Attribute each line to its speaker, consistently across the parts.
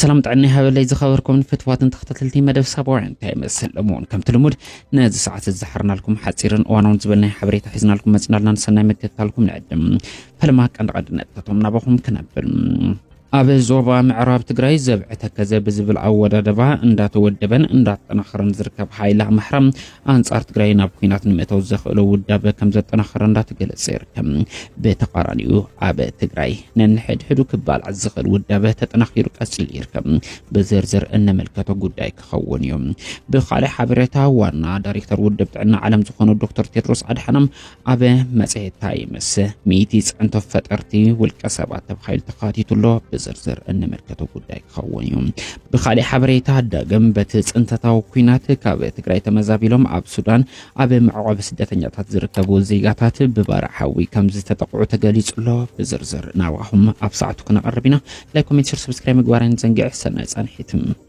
Speaker 1: ሰላም ጥዕና ይሃበለይ ዝኸበርኩምን ፍትዋትን ተኸታተልቲ መደብ ሳባውያን እንታይ ይመስል ሎሚ እውን ከምቲ ልሙድ ነዚ ሰዓት እዚ ዝሓርናልኩም ሓፂርን እዋናውን ዝበል ናይ ሓበሬታ ሒዝናልኩም መፅናልና ንሰናይ ምክትታልኩም ንዕድም ፈለማ ቀንዲ ቀንዲ ነጥብታቶም ናባኹም ክነብል ኣብ ዞባ ምዕራብ ትግራይ ዘብዐ ተከዘ ብዝብል ኣወዳደባ እንዳተወደበን እንዳተጠናኸረን ዝርከብ ሓይሊ ኣምሓራ ኣንጻር ትግራይ ናብ ኩናት ንምእታው ዘኽእሎ ውዳበ ከም ዘጠናኸረ እንዳተገለጸ ይርከብ። ብተቃራኒኡ ኣብ ትግራይ ነንሕድሕዱ ክባላዕ ዝኽእል ውዳበ ተጠናኺሩ ቀጺሉ ይርከብ። ብዝርዝር እነመልከቶ ጉዳይ ክኸውን እዩ። ብካልእ ሓበሬታ ዋና ዳይሬክተር ውድብ ጥዕና ዓለም ዝኾኑ ዶክተር ቴድሮስ ኣድሓኖም ኣብ መጽሔት ታይምስ ሚእቲ ጽዕንቶ ፈጠርቲ ውልቀ ሰባት ተባሂሉ ተኻቲቱ ኣሎ ብዝርዝር እንምልከቶ ጉዳይ ክኸውን እዩ ብካሊእ ሓበሬታ ዳግም በቲ ጽንተታዊ ኩናት ካብ ትግራይ ተመዛቢሎም ኣብ ሱዳን ኣብ መዕቆቢ ስደተኛታት ዝርከቡ ዜጋታት ብባራ ሓዊ ከም ዝተጠቕዑ ተገሊጹ ኣሎ ብዝርዝር ናባኹም ኣብ ሰዓቱ ክነቐርብ ኢና ላይክ ኮሜንት ሽር ሰብስክራይብ ምግባር ኣይንዘንግዕ ሰናይ ጻንሒት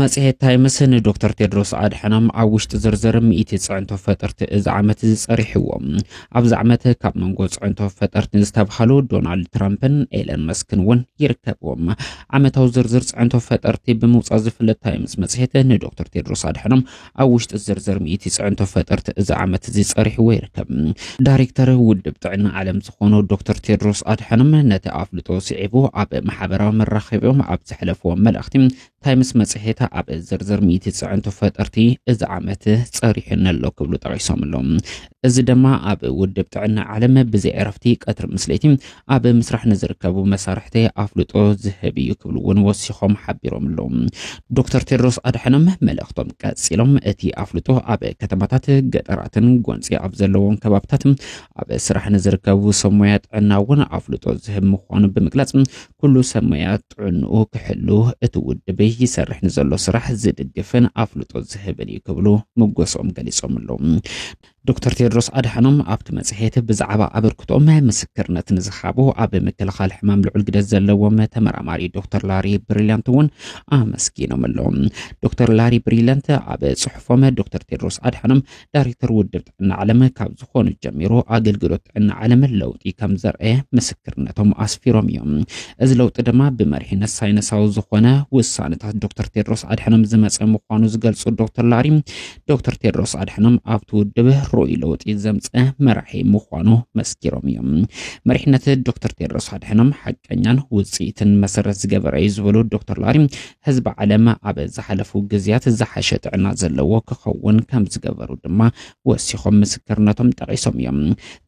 Speaker 1: መጽሔት ታይምስ ንዶክተር ቴድሮስ ኣድሐኖም ኣብ ውሽጢ ዝርዝር ሚእቲ ፅዕንቶ ፈጠርቲ እዚ ዓመት እዚ ጸሪሕዎ። ኣብዚ ዓመት ካብ መንጎ ፅዕንቶ ፈጠርቲ ዝተብሃሉ ዶናልድ ትራምፕን ኤለን መስክን እውን ይርከብዎም። ዓመታዊ ዝርዝር ፅዕንቶ ፈጠርቲ ብምውፃእ ዝፍለጥ ታይምስ መጽሔት ንዶክተር ቴድሮስ ኣድሐኖም ኣብ ውሽጢ ዝርዝር ሚእቲ ፅዕንቶ ፈጠርቲ እዚ ዓመት እዚ ፀሪሕዎ ይርከብ። ዳይሬክተር ውድብ ጥዕና ዓለም ዝኾኑ ዶክተር ቴድሮስ ኣድሓኖም ነቲ ኣፍልጦ ስዒቡ ኣብ ማሕበራዊ መራኸቢኦም ኣብ ዘሕለፍዎ መልእኽቲ ታይምስ መፅሄት ኣብ ዝርዝር ሚእቲ ፅዕንቶ ፈጠርቲ እዚ ዓመት ፀሪሑኒ ኣሎ ክብሉ ጠቒሶም ኣለዉ። እዚ ድማ ኣብ ውድብ ጥዕና ዓለም ብዘይ ዕረፍቲ ቀትሪ ምስ ለይቲ ኣብ ምስራሕ ንዝርከቡ መሳርሕቲ ኣፍልጦ ዝህብ እዩ ክብሉ እውን ወሲኾም ሓቢሮም ኣለዉ። ዶክተር ቴድሮስ ኣድሓኖም መልእኽቶም ቀፂሎም እቲ ኣፍልጦ ኣብ ከተማታት ገጠራትን ጎንፂ ኣብ ዘለዎም ከባብታት ኣብ ስራሕ ንዝርከቡ ሰብ ሞያ ጥዕና እውን ኣፍልጦ ዝህብ ምዃኑ ብምግላፅ ኩሉ ሰብ ሞያ ጥዕንኡ ክሕሉ እቲ ውድብ ይሰርሕ ንዘሎ ስራሕ ዝድግፍን ኣፍልጦ ዝህብን እዩ ክብሉ ምጎሶም ገሊፆም ኣለዉ። ዶክተር ቴድሮስ ኣድሓኖም ኣብቲ መጽሔት ብዛዕባ ኣበርክቶኦም ምስክርነት ንዝሃቡ ኣብ ምክልኻል ሕማም ልዑል ግደ ዘለዎም ተመራማሪ ዶክተር ላሪ ብሪልያንት እውን ኣመስጊኖም ኣለዎም። ዶክተር ላሪ ብሪልያንት ኣብ ጽሑፎም ዶክተር ቴድሮስ ኣድሓኖም ዳይሬክተር ውድብ ጥዕና ዓለም ካብ ዝኾኑ ጀሚሩ ኣገልግሎት ጥዕና ዓለም ለውጢ ከም ዘርአየ ምስክርነቶም ኣስፊሮም እዮም። እዚ ለውጢ ድማ ብመሪሕነት ሳይንሳዊ ዝኾነ ውሳነታት ዶክተር ቴድሮስ ኣድሐኖም ዝመፀ ምዃኑ ዝገልፁ ዶክተር ላሪ ዶክተር ቴድሮስ ኣድሓኖም ኣብቲ ውድብ ርኡይ ለውጢ ዘምፀ መራሒ ምዃኑ መስኪሮም እዮም። መሪሕነት ዶክተር ቴድሮስ ኣድሓኖም ሓቀኛን ውፅኢትን መሰረት ዝገበረ እዩ ዝበሉ ዶክተር ላሪ ህዝቢ ዓለም ኣብ ዝሓለፉ ግዝያት ዝሓሸ ጥዕና ዘለዎ ክኸውን ከም ዝገበሩ ድማ ወሲኾም ምስክርነቶም ጠቒሶም እዮም።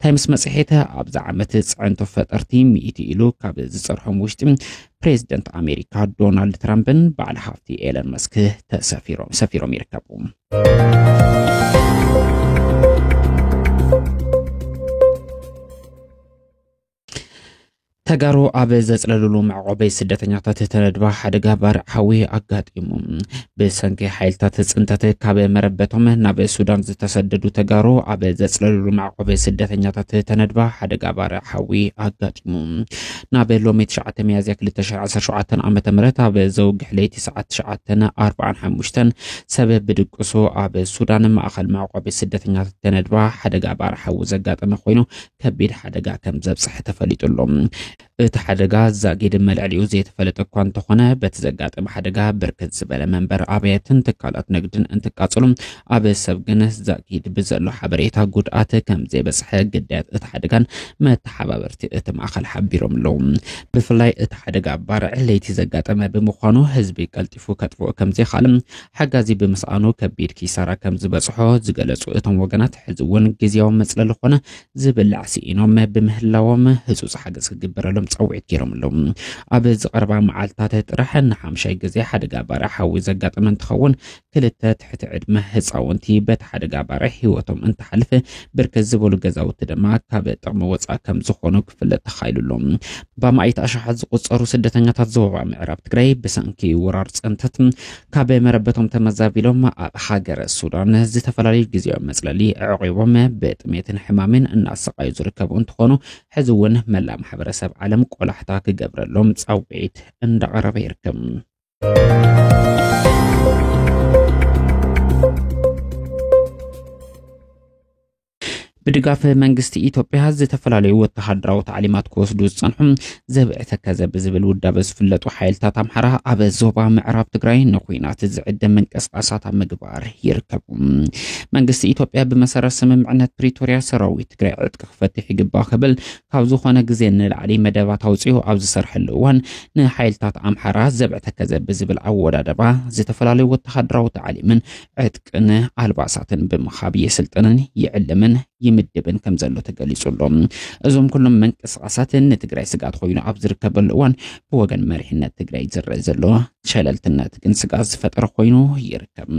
Speaker 1: ታይምስ መፅሄት ኣብዚ ዓመት ፅዕንቶ ፈጠርቲ ሚእቲ ኢሉ ካብ ዝፀርሖም ውሽጢ ፕሬዚደንት ኣሜሪካ ዶናልድ ትራምፕን በዓል ሃፍቲ ኤለን መስክ ተሰፊሮም ሰፊሮም ይርከቡ። ተጋሩ ኣብ ዘፅለልሉ መዕቆቢ ስደተኛታት ተነድባ ሓደጋ ባርዕ ሓዊ ኣጋጢሙ ብሰንኪ ሓይልታት ፅንተት ካብ መረበቶም ናብ ሱዳን ዝተሰደዱ ተጋሩ ኣብ ዘፅለልሉ መዕቆቢ ስደተኛታት ተነድባ ሓደጋ ባርዕ ሓዊ ኣጋጢሙ ናብ ሎሚ ትሽዓተ ሚያዝያ ክልተ ሽሕ ዓሰርተ ሸውዓተ ዓመተ ምህረት ኣብ ዘውግሕ ለይቲ ሰዓት ትሽዓተን ኣርብዓን ሓሙሽተን ሰብ ብድቅሱ ኣብ ሱዳን ማእኸል መዕቆቢ ስደተኛታት ተነድባ ሓደጋ ባር ሓዊ ዘጋጠመ ኮይኑ ከቢድ ሓደጋ ከም ዘብፅሐ ተፈሊጡ ኣሎ። እቲ ሓደጋ ዛጊድ መልዕሊኡ ዘይተፈለጠ እኳ እንተኾነ በቲ ዘጋጠመ ሓደጋ ብርክት ዝበለ መንበር ኣብያትን ትካላት ንግድን እንትቃፀሉ ኣብ ሰብ ግን ዛጊድ ብዘሎ ሓበሬታ ጉድኣት ከም ዘይበፅሐ ግዳያት እቲ ሓደጋን መተሓባበርቲ እቲ ማእኸል ሓቢሮም ኣለዉ። ብፍላይ እቲ ሓደጋ ባርዕ ለይቲ ዘጋጠመ ብምዃኑ ህዝቢ ቀልጢፉ ከጥፍኦ ከም ዘይኽኣልን ሓጋዚ ብምስኣኑ ከቢድ ኪሳራ ከም ዝበፅሖ ዝገለፁ እቶም ወገናት ሕዚ እውን ግዝያዊ መፅለሊ ኾነ ዝብላዕ ስኢኖም ብምህላዎም ህፁፅ ሓገዝ ክግበረሎም ፃውዒት ገይሮም ኣለዉ። ኣብ ዝቐረባ መዓልትታት ጥራሕ ንሓምሻይ ግዜ ሓደጋ ባርዕ ሓዊ ዘጋጠመ እንትኸውን ክልተ ትሕቲ ዕድመ ህፃውንቲ በቲ ሓደጋ ባርዕ ህይወቶም እንትሓልፍ፣ ብርክት ዝበሉ ገዛውቲ ድማ ካብ ጥቕሚ ወፃእ ከምዝኾኑ ክፍለጥ ተኻኢሉ ኣሎ። ብኣማኢት ኣሽሓት ዝቑፀሩ ስደተኛታት ዞባ ምዕራብ ትግራይ ብሰንኪ ወራር ፅንተት ካብ መረበቶም ተመዛቢሎም ኣብ ሃገረ ሱዳን ዝተፈላለዩ ግዝያዊ መፅለሊ ኣዕቒቦም ብጥሜትን ሕማሜን እናሰቓዩ ዝርከቡ እንትኾኑ ሕዚ እውን መላእ ማሕበረሰብ ዓለም ቆላሕታ ክገብረሎም ፃውዒት እንዳቐረበ ይርከብ። ብድጋፍ መንግስቲ ኢትዮጵያ ዝተፈላለዩ ወተሃደራዊ ታዕሊማት ክወስዱ ዝፀንሑ ዘብዒ ተከዘ ብዝብል ውዳበ ዝፍለጡ ሓይልታት ኣምሓራ ኣብ ዞባ ምዕራብ ትግራይ ንኩናት ዝዕደም ምንቅስቃሳት ኣብ ምግባር ይርከቡ መንግስቲ ኢትዮጵያ ብመሰረት ስምምዕነት ፕሪቶርያ ሰራዊት ትግራይ ዕጥቂ ክፈትሕ ይግባእ ክብል ካብ ዝኾነ ግዜ ንላዕሊ መደባት ኣውጺኡ ኣብ ዝሰርሐሉ እዋን፣ ንሓይልታት ኣምሓራ ዘብዐ ተከዘ ብዝብል ኣወዳደባ ዝተፈላለዩ ወተሃደራዊ ታዕሊምን ዕጥቅን ኣልባሳትን ብምሃብ የስልጥንን ይዕልምን ይምድብን ከም ዘሎ ተገሊጹ ኣሎ። እዞም ኩሎም ምንቅስቓሳት ንትግራይ ስግኣት ኮይኑ ኣብ ዝርከበሉ እዋን ብወገን መሪሕነት ትግራይ ዝረእ ዘሎ ሸለልትነት ግን ስግኣት ዝፈጠረ ኮይኑ ይርከብ።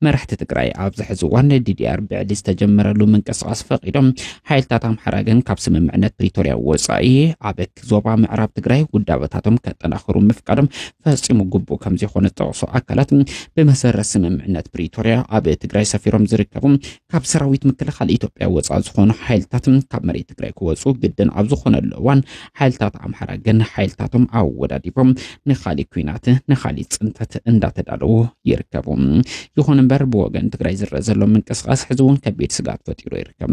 Speaker 1: መራሕቲ ትግራይ ኣብዚ ሕዚ እዋን ዲዲኣር ብዕሊ ዝተጀመረሉ ምንቅስቓስ ፈቒዶም፣ ሓይልታት ኣምሓራ ግን ካብ ስምምዕነት ፕሪቶርያ ወፃኢ ኣብ ዞባ ምዕራብ ትግራይ ውዳበታቶም ከጠናኽሩ ምፍቃዶም ፈፂሙ ግቡእ ከም ዘይኮነ ዝጠቕሱ ኣካላት ብመሰረት ስምምዕነት ፕሪቶርያ ኣብ ትግራይ ሰፊሮም ዝርከቡ ካብ ሰራዊት ምክልኻል ኢትዮጵያ ወፃእ ዝኾኑ ሓይልታት ካብ መሬት ትግራይ ክወፁ ግድን ኣብ ዝኾነሉ እዋን ሓይልታት ኣምሓራ ግን ሓይልታቶም ኣወዳዲቦም ንካሊእ ኩናት ንካሊእ ፅንተት እንዳተዳለዉ ይርከቡ። ይኹን እምበር ብወገን ትግራይ ዝረአ ዘሎ ምንቅስቃስ ሕዚ እውን ከቢድ ስጋት ፈጢሩ ይርከብ።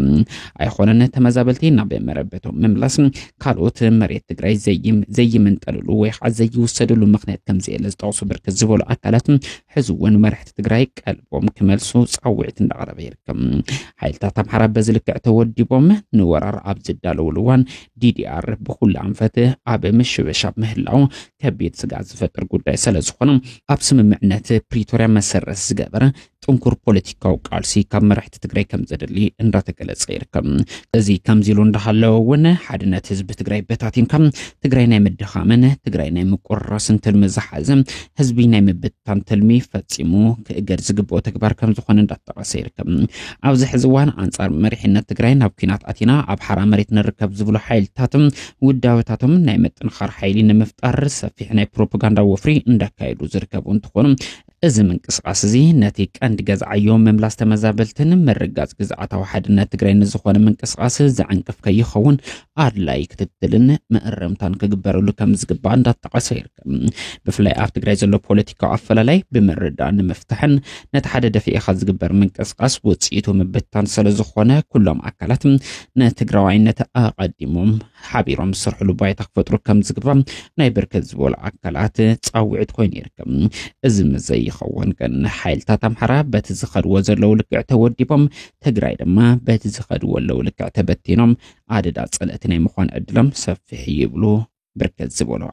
Speaker 1: ኣይኾነን ተመዛበልቲ ናብ መረበቶም ምምላስ ካልኦት መሬት ትግራይ ዘይምንጠልሉ ወይ ከዓ ዘይውሰድሉ ምክንያት ከምዘየለ ዝጠቕሱ ብርክት ዝበሉ ኣካላት ሕዚ እውን መራሕቲ ትግራይ ቀልቦም ክመልሱ ፃውዒት እንዳቕረበ ይርከብ። ሓይልታት ኣምሓራ በዚ ልክዕ ተወዲቦም ንወራር ኣብ ዝዳለውሉ እዋን ዲዲኣር ብኩሉ ኣንፈት ኣብ ምሽበሻብ ምህላው ከቢድ ስጋት ዝፈጥር ጉዳይ ስለዝኾነ ኣብ ስምምዕነት ፕሪቶርያ መሰረት ዝገበረ ጥንኩር ፖለቲካዊ ቃልሲ ካብ መራሕቲ ሓድነት ትግራይ ከም ዘድሊ እንዳተገለጸ ይርከብ። እዚ ከምዚ ኢሉ እንዳሃለወ እውን ሓድነት ህዝቢ ትግራይ በታቲንካ ትግራይ ናይ ምድኻምን ትግራይ ናይ ምቁርራስን ትልሚ ዝሓዘ ህዝቢ ናይ ምብትታን ትልሚ ፈጺሙ ክእገድ ዝግብኦ ተግባር ከም ዝኾነ እንዳተጠቐሰ ይርከብ። ኣብዚ ሕዚ እዋን ኣንጻር መሪሕነት ትግራይ ናብ ኩናት ኣቲና ኣብ ሓራ መሬት ንርከብ ዝብሉ ሓይልታትን ውዳበታቶም ናይ ምጥንኻር ሓይሊ ንምፍጣር ሰፊሕ ናይ ፕሮፓጋንዳ ወፍሪ እንዳካየዱ ዝርከቡ እንትኾኑ እዚ ምንቅስቓስ እዚ ነቲ ቀንዲ ገዝዓዮ ምምላስ ተመዛበልትን ምርጋጽ ግዝኣታዊ ሓድነት ትግራይ ንዝኾነ ምንቅስቓስ ዘዕንቅፍ ከይኸውን ኣድላይ ክትትልን መእረምታን ክግበረሉ ከም ዝግባእ እንዳተጠቐሰ ይርከብ። ብፍላይ ኣብ ትግራይ ዘሎ ፖለቲካዊ ኣፈላላይ ብምርዳእ ንምፍታሕን ነቲ ሓደ ደፊኢኻ ዝግበር ምንቅስቓስ ውፅኢቱ ምብታን ስለዝኾነ ኩሎም ኣካላት ንትግራዋይነት ኣቐዲሞም ሓቢሮም ዝሰርሕሉ ባይታ ክፈጥሩ ከምዝግባእ ናይ ብርክት ዝበሉ ኣካላት ፃውዒት ኮይኑ ይርከብ። እዚ ምዘይኸውን ግን ሓይልታት ኣምሓራ በቲ ዝኸድዎ ዘለዉ ልክዕ ተወዲቦም፣ ትግራይ ድማ በቲ ዝኸድዎ ኣለዉ ልክዕ ተበቲኖም ኣደዳ ፀለእቲ ናይ ምዃን ዕድሎም ሰፊሕ እዩ ይብሉ ብርክት ዝበሉ